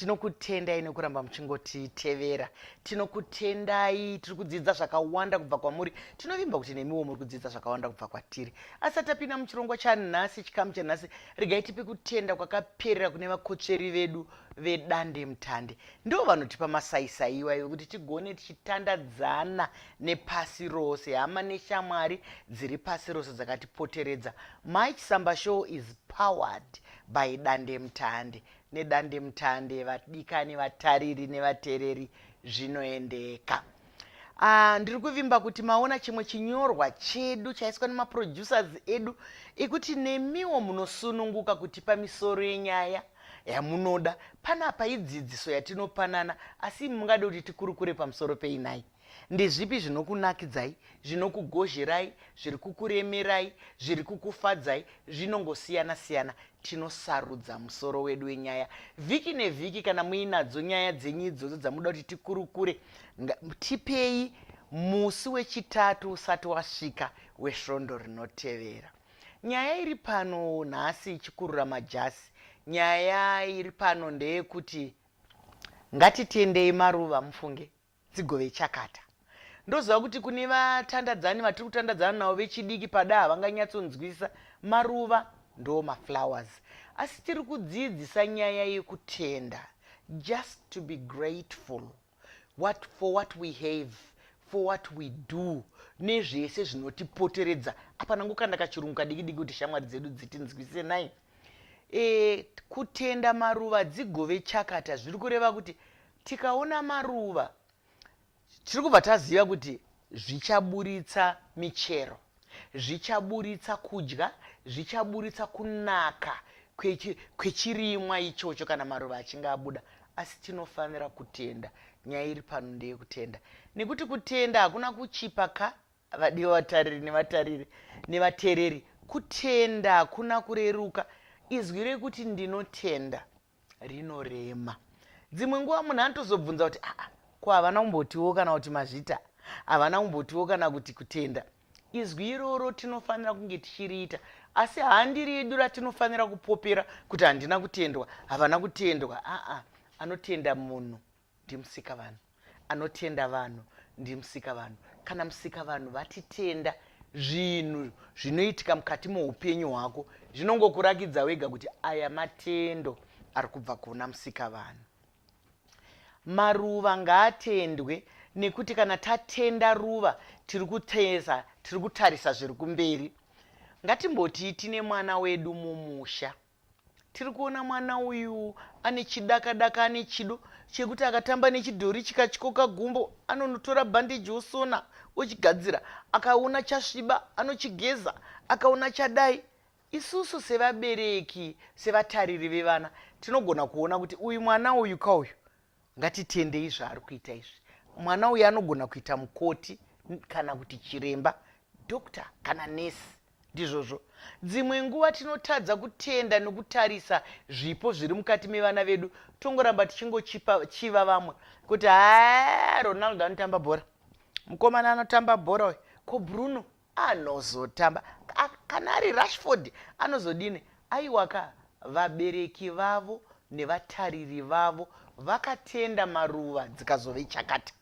tinokutendai nekuramba muchingotitevera tinokutendai tiri kudzidza zvakawanda kubva kwamuri tinovimba kuti nemiwo muri kudzidza zvakawanda kubva kwatiri asi atapinda muchirongwa chanhasi chikamu chanhasi regai tipe kutenda kwakaperera kune vakotsveri vedu vedande mutande ndo vanotipa masaisai iwayo ekuti tigone tichitandadzana nepasi rose hama neshamwari dziri pasi rose dzakatipoteredza my chisamba show is powered by dande mutande nedandemutande vadikani vatariri nevatereri zvinoendeka Uh, ndiri kuvimba kuti maona chimwe chinyorwa chedu chaiswa nemaproducers edu ekuti nemiwo munosununguka kutipa misoro yenyaya yamunoda panapa idzidziso yatinopanana asi imi mungade kuti tikurukure pamusoro peinai Ndezvipi zvinokunakidzai, zvinokugozherai, zviri kukuremerai, zviri kukufadzai? Zvinongosiyana-siyana. Tinosarudza musoro wedu wenyaya vhiki nevhiki. Kana muinadzo nyaya dzenyu idzodzo dzamunoda kuti tikurukure, tipei musi wechitatu usati wasvika wesvondo rinotevera. Nyaya iri pano nhasi ichikurura majasi. Nyaya iri pano ndeyekuti ngatitendei maruva mufunge dzigove chakata. Ndoziva kuti kune vatandadzani vatiri kutandadzana navo vechidiki pada havanganyatsonzwisisa maruva ndoo maflowers asi tiri kudziidzisa nyaya yekutenda just to be grateful what, for what we have for what we do nezvese zvinotipoteredza apa nangu kanda kachirungu kadiki diki kuti shamwari dzedu dzitinzwise nai e, kutenda maruva dzigove chakata zviri kureva kuti Tikaona maruva tiri kubva taziva kuti zvichaburitsa michero, zvichaburitsa kudya, zvichaburitsa kunaka kwechirimwa ichocho kana maruva achinge abuda. Asi tinofanira kutenda. Nyaya iri pano ndeyekutenda, nekuti kutenda hakuna kuchipa ka vadiwa vatariri nevatariri nevatereri. Kutenda hakuna kureruka. Izwi rekuti ndinotenda. rinorema dzimwe nguva munhu anotozobvunza kuti aa ko havana kumbotiwo kana kuti mazvita havana kumbotiwo kana kuti kutenda izwi iroro tinofanira kunge tichiriita asi handiri yedu ratinofanira kupopera kuti handina kutendwa havana kutendwa aa anotenda munhu ndiMusikavanhu anotenda vanhu ndiMusikavanhu kana Musikavanhu vatitenda zvinhu zvinoitika mukati moupenyu hwako zvinongokurakidza wega kuti aya matendo ari kubva kuna Musikavanhu maruva ngaatendwe nekuti kana tatenda ruva tiri kuteza tiri kutarisa zviri kumberi ngatimboti tine mwana wedu mumusha Tiri kuona mwana uyu ane chidakadaka ane chido chekuti akatamba nechidhori chikatyoka gumbo anonotora bhandeji osona ochigadzira akaona chasviba anochigeza akaona chadai isusu sevabereki sevatariri vevana tinogona kuona kuti uyu mwana uyu ka uyu ngatitendei zvaari kuita izvi mwana uyu anogona kuita mukoti kana kuti chiremba doctor kana nesi Ndizvozvo. Dzimwe nguva tinotadza kutenda nokutarisa zvipo zviri mukati mevana vedu tongoramba tichingochiva vamwe kuti haa ronaldo anotamba bhora mukomana anotamba bhora uyu ko bruno anozotamba kana ari rashford anozodini aiwaka vabereki vavo nevatariri vavo vakatenda maruva dzikazove chakata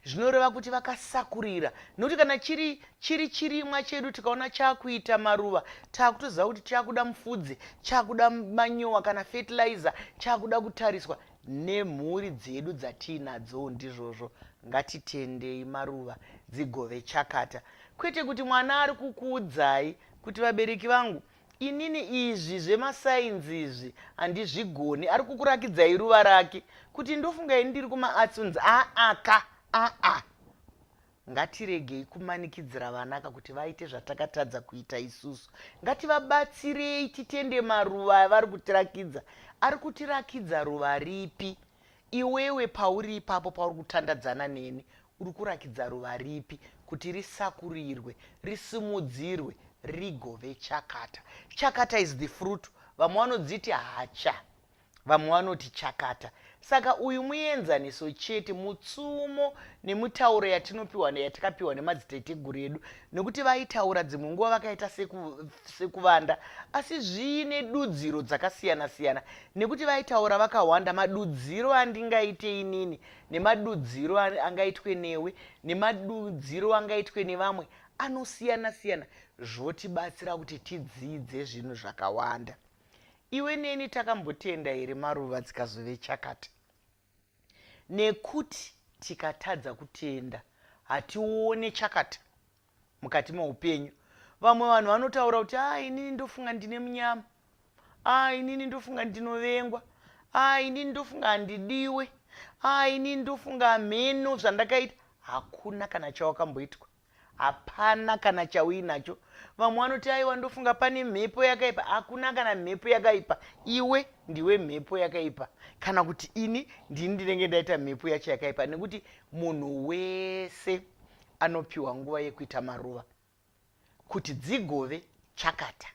zvinoreva kuti vakasakurira nokuti kana chiri chiri chirimwa chedu tikaona chakuita maruva takutoziva kuti chakuda mufudze chakuda manyowa kana fertilizer chakuda kutariswa nemhuri dzedu dzatiinadzo ndizvozvo ngatitendei maruva dzigove chakata kwete kuti mwana ari kukuudzai kuti vabereki vangu Inini izvi zvemasainzi izvi handizvigoni. Ari kukurakidzai ruva rake kuti ndofunga ini ndiri kumaarts unzi aa ka aa. Ngatiregei kumanikidzira vana ka kuti vaite zvatakatadza kuita isusu. Ngativabatsirei titende maruva avari kutirakidza. Ari kutirakidza ruva ripi? Iwewe pauri ipapo pauri kutandadzana neni Uri kurakidza ruva ripi kuti risakurirwe, risimudzirwe, rigove chakata? Chakata is the fruit. Vamwe vanodziti hacha, vamwe vanoti chakata. Saka uyu muenzaniso chete, mutsumo nemitauro yatinopiwa yatakapiwa nemadziteteguru edu, nekuti vaitaura dzimwe nguva vakaita sekuvanda, asi zviine dudziro dzakasiyana siyana, nekuti vaitaura vakawanda. Madudziro andingaite inini nemadudziro angaitwe newe nemadudziro angaitwe nevamwe anosiyana siyana zvotibatsira kuti tidzidze zvinhu zvakawanda iwe neni takambotenda here maruva dzikazove chakata nekuti tikatadza kutenda hatione chakata mukati meupenyu vamwe vanhu vanotaura kuti a ah, inini ndofunga ndine munyama a ah, inini ndofunga ndinovengwa a ah, inini ndofunga handidiwe a inini ndofunga hameno zvandakaita hakuna kana chawakamboitwa hapana kana chauinacho vamwe vanoti aiwa ndofunga pane mhepo yakaipa hakuna kana mhepo yakaipa iwe ndiwe mhepo yakaipa kana kuti ini ndini ndinenge ndaita mhepo yacho yakaipa nekuti munhu wese anopiwa nguva yekuita maruva kuti dzigove chakata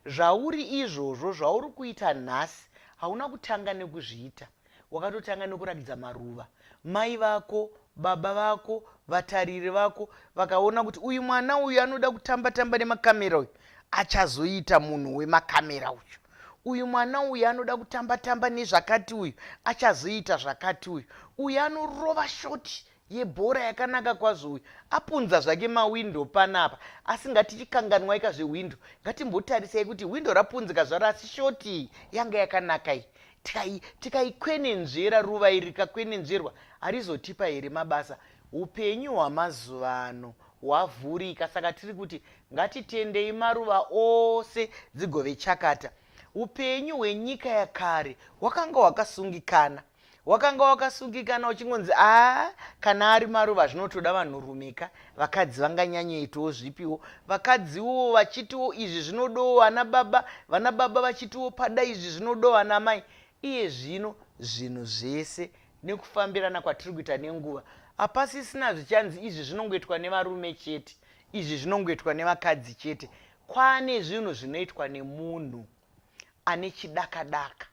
zvauri izvozvo zvauri kuita nhasi hauna kutanga nekuzviita wakatotanga nekuratidza maruva mai vako baba vako vatariri vako vakaona kuti uyu mwana uyu anoda kutamba tamba nemakamera uyu achazoita munhu wemakamera uyu uyu mwana uyu anoda kutamba tamba nezvakati uyu achazoita zvakati uyu uyu anorova shoti yebhora yakanaka kwazvo uyu apunza zvake mawindow panapa asi ngatichikanganwaika zvehwindo ngatimbotarisai kuti hwindo rapunzika zvaro asi shoti iyi yanga yakanaka iyi tikaikwenenzvera ruva iri rikakwenenzverwa harizotipa here mabasa upenyu hwamazuva ano hwavhurika saka tiri kuti ngatitendei maruva ose dzigove chakata upenyu hwenyika yakare hwakanga hwakasungikana wakanga wakasungikana uchingonzi aa kana ari maruva zvinotoda vanhurumeka vakadzi vanganyanyoitawo zvipiwo vakadziwo vachitiwo izvi zvinodowo ana baba vana baba vachitiwo pada izvi zvinodowo ana mai iye zvino zvinhu zvese nekufambirana kwatiri kuita nenguva hapasisina zvichanzi izvi zvinongoitwa nevarume chete izvi zvinongoitwa nevakadzi chete kwane zvinhu zvinoitwa nemunhu ne ane chidakadaka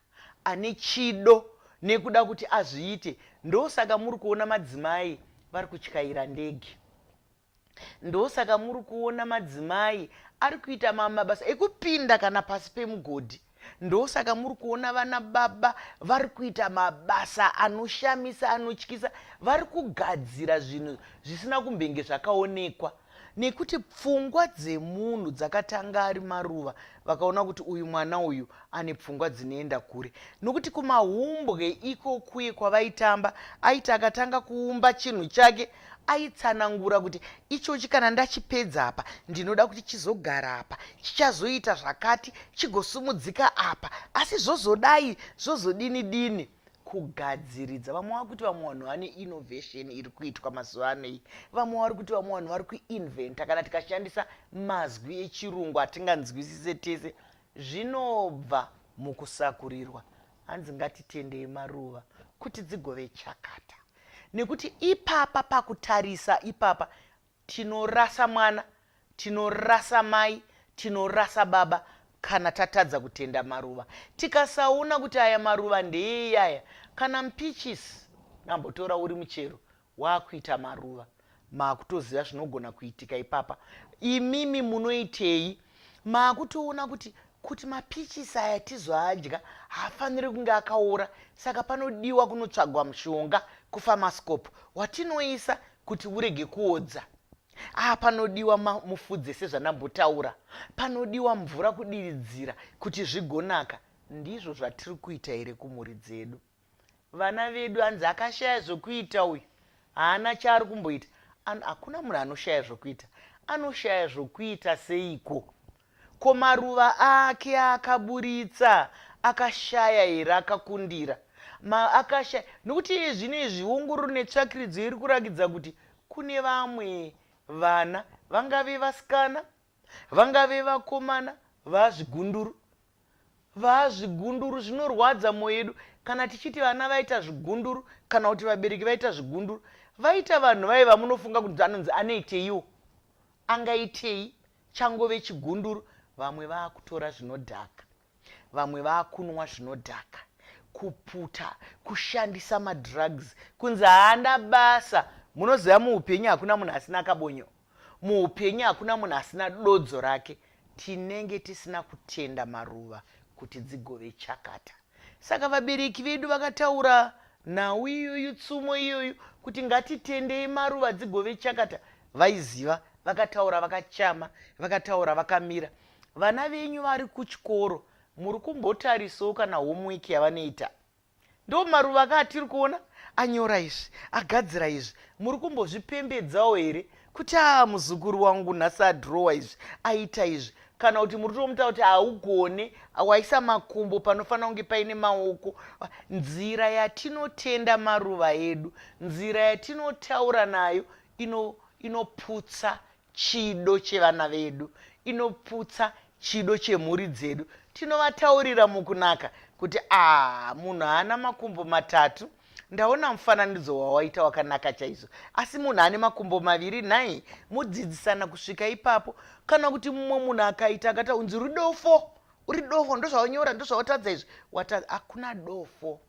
ane chido nekuda kuti azviite ndosaka muri kuona madzimai vari kutyaira ndege ndosaka muri kuona madzimai ari kuita mamwe mabasa ekupinda kana pasi pemugodhi ndosaka muri kuona vana baba vari kuita mabasa anoshamisa anotyisa vari kugadzira zvinhu zvisina kumbenge zvakaonekwa nekuti pfungwa dzemunhu dzakatanga ari maruva vakaona kuti uyu mwana uyu ane pfungwa dzinoenda kure nokuti kumahumbwe ikokuye kwavaitamba aiti akatanga kuumba chinhu chake aitsanangura kuti ichochi kana ndachipedza apa ndinoda kuti chizogara apa chichazoita zvakati chigosumudzika apa asi zvozodai zvozodini dini kugadziridza vamwe vari kuti vamwe vanhu vane innovation iri kuitwa mazuva ano iyi vamwe vari kuti vamwe vanhu vari kuinventa kana tikashandisa mazwi echirungu atinganzwisise tese zvinobva mukusakurirwa hanzi ngatitendei maruva kuti dzigove chakata nekuti ipapa pakutarisa ipapa Tinorasa mwana, tinorasa mai, tinorasa baba kana tatadza kutenda maruva. Tikasaona kuti aya maruva ndeeyaya kana mpichisi nambotora uri muchero wakuita maruva. Makutoziva zvinogona kuitika ipapa. Imimi munoitei maakutoona kuti kuti mapichisi aya tizoadya haafaniri kunge akaora saka panodiwa kunotsvagwa mushonga kufamascope watinoisa kuti urege kuodza aa ah, panodiwa mufudze sezvandambotaura panodiwa mvura kudiridzira kuti zvigonaka ndizvo zvatiri kuita here kumhuri dzedu Vana vedu hanzi akashaya zvokuita uyu haana chaari kumboita An, hakuna munhu anoshaya zvokuita anoshaya zvokuita seiko ko maruva ake aakaburitsa akashaya here akakundira ma akashaya nokuti iye zvino izvi ongororo netsvakiridzo iri kurakidza kuti kune vamwe vana vangave vasikana Vangave vakomana vaazvigunduru. Vaazvigunduru zvinorwadza moyo yedu kana tichiti vana vaita zvigunduru kana kuti vabereki vaita zvigunduru. Vaita vanhu vaye vamunofunga kuti anonzi anoiteiwo. Angaitei changove chigunduru vamwe vaakutora zvinodhaka. vamwe vakunwa zvinodhaka kuputa kushandisa madrugs kunzi haana basa munoziva muupenyu hakuna munhu asina kabonyo muupenyu hakuna munhu asina dodzo rake tinenge tisina kutenda maruva kuti dzigove chakata saka vabereki vedu vakataura nhau iyoyu tsumo iyoyu kuti ngatitendei maruva dzigove chakata vaiziva vakataura vakachama vakataura vakamira Vana venyu vari kuchikoro muri kumbotarisawo kana homework yavanoita. Ndo maruva aka atiri kuona anyora izvi, agadzira izvi. Muri kumbozvipembedzawo here kuti aa muzukuru wangu nhasi adhirowa izvi, aita izvi kana kuti muri kutomuta kuti haugone waisa makumbo panofanira kunge paine maoko nzira yatinotenda maruva edu nzira yatinotaura nayo inoputsa ino Chido chevana vedu inoputsa chido chemhuri dzedu. Tinovataurira mukunaka kuti aah munhu haana makumbo matatu ndaona mufananidzo wawaita wakanaka chaizvo asi munhu ane makumbo maviri nhai modzidzisana kusvika ipapo kana kuti mumwe munhu akaita akata unzi rudofo uri dofo ndozvaunyora ndozvautadza izvi wata hakuna dofo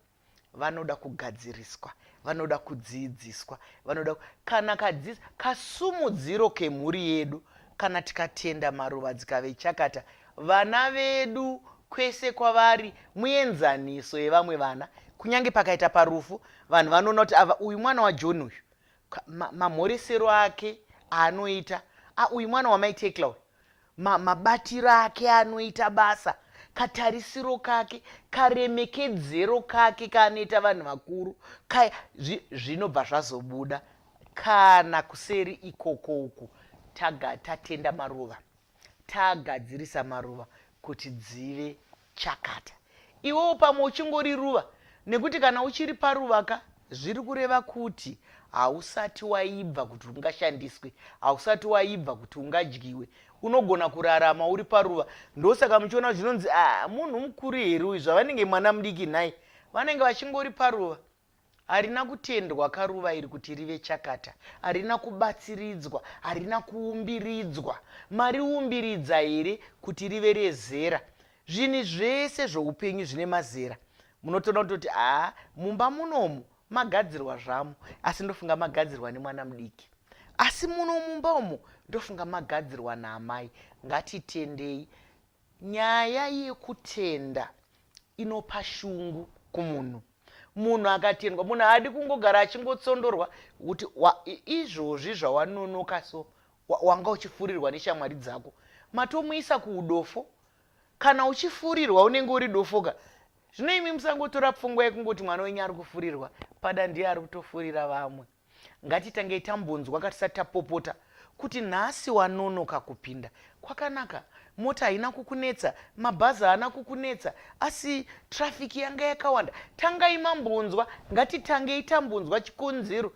vanoda kugadziriswa vanoda kudziidziswa vanoda kana kadzidzi kasumudziro kemhuri yedu kana tikatenda maruva dzikave chakata vana vedu kwese kwavari muenzaniso yevamwe vana kunyange pakaita parufu vanhu vanoona kuti ava uyu mwana wajohn uyu mamhoresero ake aanoita uyu mwana wamaitecla uyu ma, mabatiro ake anoita basa katarisiro kake karemekedzero kake kaanoita vanhu vakuru kaya zvinobva zvi zvazobuda kana kuseri ikoko uku taga tatenda maruva tagadzirisa maruva kuti dzive chakata iwewo pamwe uchingori ruva nekuti kana uchiri paruva ka zviri kureva kuti hausati waibva kuti ungashandiswe hausati waibva kuti ungadyiwe unogona kurarama uri paruva ndosaka muchiona zvinonzi ah, munhu mukuru here uyu zvavanenge mwana mudiki nhai vanenge vachingori paruva Harina kutendwa ka ruva iri kuti rive chakata. Harina kubatsiridzwa. Harina kuumbiridzwa. Mariumbiridza here kuti rive rezera? Zvinhu zvese zvoupenyu zvine mazera. Munotoona kutoti haa mumba munomu magadzirwa zvamo asi ndofunga magadzirwa nemwana mudiki asi muno mumba umu ndofunga magadzirwa naamai ngatitendei nyaya yekutenda inopa shungu kumunhu munhu akatendwa munhu haadi kungogara achingotsondorwa kuti izvozvi zvawanonoka so wanga uchifurirwa neshamwari dzako matomuisa kuudofo kana uchifurirwa unenge uri dofoka zvino imi musangotora pfungwa yekungoti mwana wenyu ari kufurirwa pada ndiye ari kutofurira vamwe Ngatitangei tambonzwa ka tisati tapopota kuti nhasi wanonoka kupinda. Kwakanaka, mota haina kukunetsa, mabhazi haana kukunetsa, asi traffic yanga yakawanda. Tangai mambonzwa, ngatitangei tambonzwa chikonzero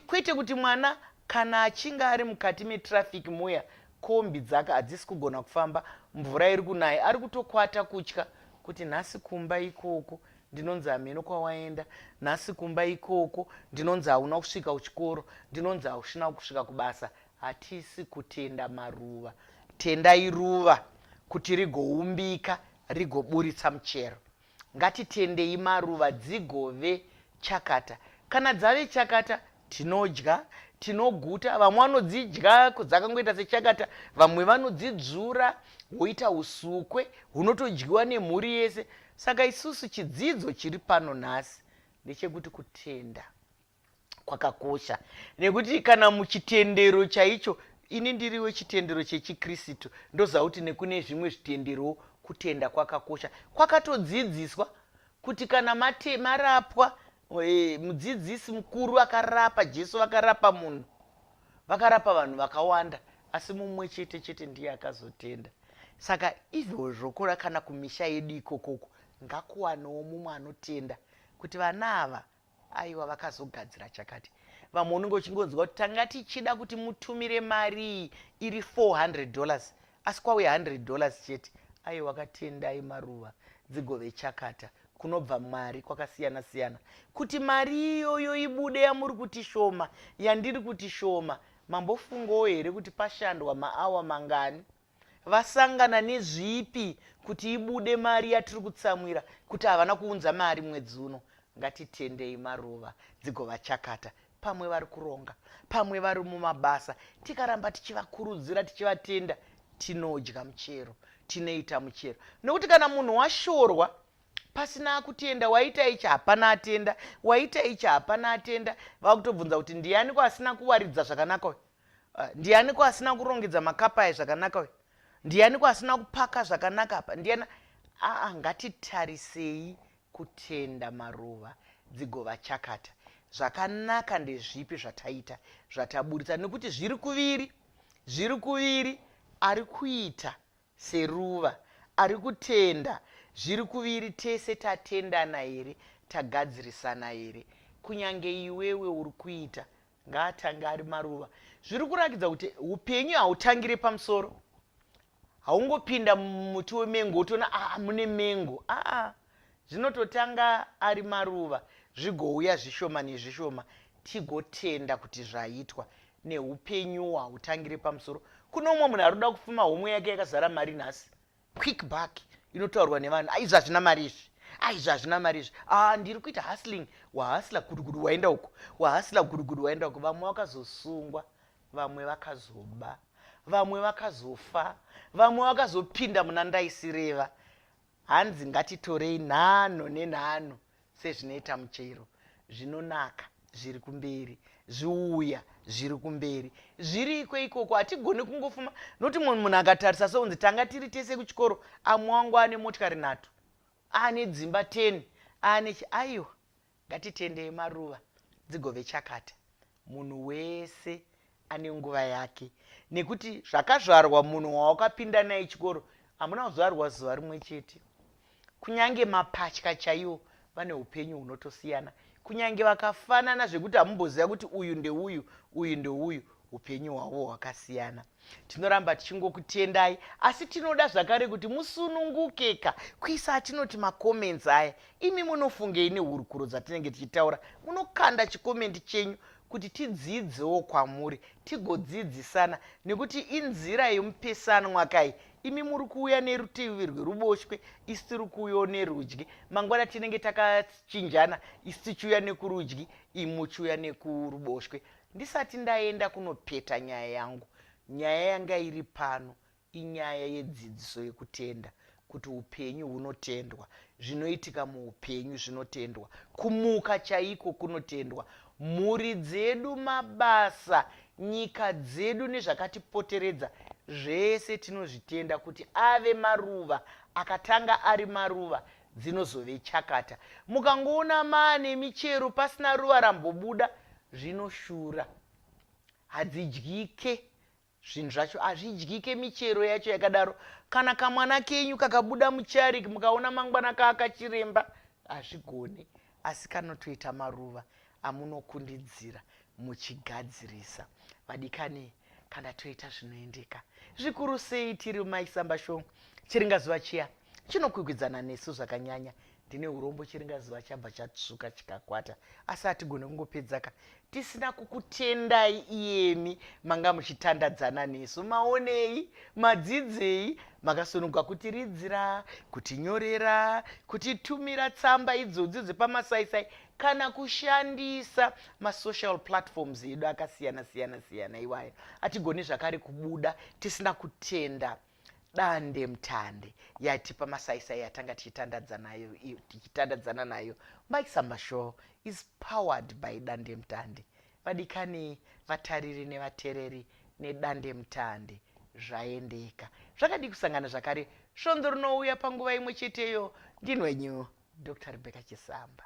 kwete kuti mwana kana achinge ari mukati metraffic muya kombi dzaka hadzisi kugona kufamba mvura iri kunaya ari kutokwata kutya kuti nhasi kumba ikoko ndinonzi hameno kwawaenda nhasi kumba ikoko ndinonzi hauna kusvika kuchikoro ndinonzi haushina kusvika kubasa hatisi kutenda maruva tendai ruva kuti rigoumbika rigoburitsa muchero ngatitendei maruva dzigove chakata kana dzave chakata Tinodya, tinoguta, vamwe vanodzidya dzakangoita sechakata, vamwe vanodzidzvura woita usukwe hunotodyiwa nemhuri yese. Saka isusu chidzidzo chiri pano nhasi ndechekuti kutenda kwakakosha nekuti kana muchitendero chaicho ini ndiri wechitendero chechikristu ndoziva kuti nekune zvimwe zvitenderowo kutenda kwakakosha kwakatodzidziswa kuti kana mate, marapwa Hey, mudzidzisi mukuru vakarapa jesu vakarapa munhu vakarapa vanhu vakawanda asi mumwe chete chete ndiye akazotenda saka izvozvokora kana kumisha yedu ikokoko ngakuwanewo mumwe anotenda kuti vana ava aiwa vakazogadzira chakati vamwe unenge uchingonzwa kuti tanga tichida kuti mutumire mari iri 400 dollars asi kwauya 100 dollars chete ayi wakatendai maruva dzigove chakata kunobva mari kwakasiyana siyana kuti mari iyoyo ibude yamuri kuti shoma yandiri kuti shoma mambofungawo here kuti pashandwa maawa mangani vasangana nezvipi kuti ibude mari yatiri kutsamwira kuti havana kuunza mari mwedzi uno ngatitendei maruva dzigova chakata pamwe vari kuronga pamwe vari mumabasa tikaramba tichivakurudzira tichivatenda tinodya muchero tinoita muchero nokuti kana munhu washorwa pasina kutenda waita ichi hapana atenda waita ichi hapana atenda vakutobvunza kuti ndianiko asina kuwaridza zvakanaka uyu ah, ndianiko asina kurongedza makapa aye zvakanaka uyu ndianiko asina kupaka zvakanaka apa ndiani aa ngatitarisei kutenda maruva dzigova chakata zvakanaka ndezvipi zvataita zvataburitsa nekuti zviri kuviri zviri kuviri ari kuita seruva ari kutenda zviri kuviri tese tatendana here tagadzirisana here kunyange iwewe uri kuita ngaatange ari maruva zviri kurakidza kuti upenyu hautangire pamusoro haungopinda mumuti wemengo wotoona aa mune mengo aa zvinototanga ari maruva zvigouya zvishoma nezvishoma tigotenda kuti zvaitwa neupenyu hwautangire pamusoro kune umwe munhu ari kuda kupfuma homwe yake yakazara mari nhasi quick back inotaurwa nevanhu aizvi hazvina mari izvi aizvi hazvina mari izvi a ndiri kuita hustling wahasla gudugudu waenda uko wahasla gudugudu waenda uko vamwe vakazosungwa vamwe vakazoba vamwe vakazofa vamwe vakazopinda muna ndaisireva hanzi ngatitorei nhano nenhano sezvinoita muchero zvinonaka zviri kumberi zviuya zviri kumberi zviriko ikoko hatigoni kungofuma nokuti mumwe munhu akatarisa sounzi tanga tiri tese kuchikoro amwe wangu ane motikari nhatu aane dzimba 10 aane aiwa Ngatitendei maruva dzigove chakata. Munhu wese ane nguva yake nekuti zvakazvarwa munhu wawakapinda naye chikoro hamuna kuzvarwa zuva rimwe chete. Kunyange mapatya chaiwo vane upenyu hunotosiyana. Kunyange vakafanana zvekuti hamumboziva kuti uyu ndeuyu, uyu ndeuyu, upenyu hwavo hwakasiyana. Tinoramba tichingokutendai asi tinoda zvakare kuti musunungukeka kuisa atinoti macomments aya. Imi munofungei nehurukuro dzatinenge tichitaura? Munokanda chikomendi chenyu kuti tidziidzewo kwamuri tigodzidzisana nekuti inzira yemupesanwa kai imi muri kuuya nerutivi rweruboshwe isi tiri kuuyo nerudyi mangwana tinenge takachinjana isi tichiuya nekurudyi imi muchiuya nekuruboshwe Ndisati ndaenda kunopeta nyaya yangu, nyaya yanga iri pano inyaya yedzidziso yekutenda, kuti upenyu hunotendwa, zvinoitika muupenyu zvinotendwa, kumuka chaiko kunotendwa, mhuri dzedu, mabasa, nyika dzedu nezvakatipoteredza zvese tinozvitenda kuti ave maruva, akatanga ari maruva, dzinozove chakata. Mukangoona maa nemichero pasina ruva rambobuda zvinoshura. Hadzidyike zvinhu zvacho hazvidyike michero yacho yakadaro. Kana kamwana kenyu kakabuda mucharik mukaona mangwana kaakachiremba hazvigone. Asi kanotoita maruva amunokundidzira muchigadzirisa vadikani kana toita zvinoendeka zvikuru sei tiri maisamba show chiringazuva chiya chinokwikwidzana nesu zvakanyanya ndine urombo chiringazuva chabva chatsvuka chikakwata asi hatigone kungopedzaka tisina kukutendai iyemi manga muchitandadzana nesu maonei madzidzei makasununguka kutiridzira kutinyorera kutitumira tsamba idzodzi dzepamasaisai kana kushandisa masocial platforms edu akasiyana siyana siyana iwayo atigoni zvakare kubuda tisina kutenda dandemtande yatipa masaisai yatanga tichitandadza nayo i- tichitandadzana nayo mike samba show is powered by dandemtande vadikani vatariri nevatereri nedandemtande zvaendeka zvakadii kusangana zvakare svondo rinouya panguva imwe cheteyo ndinwenyu dr rebecca chisamba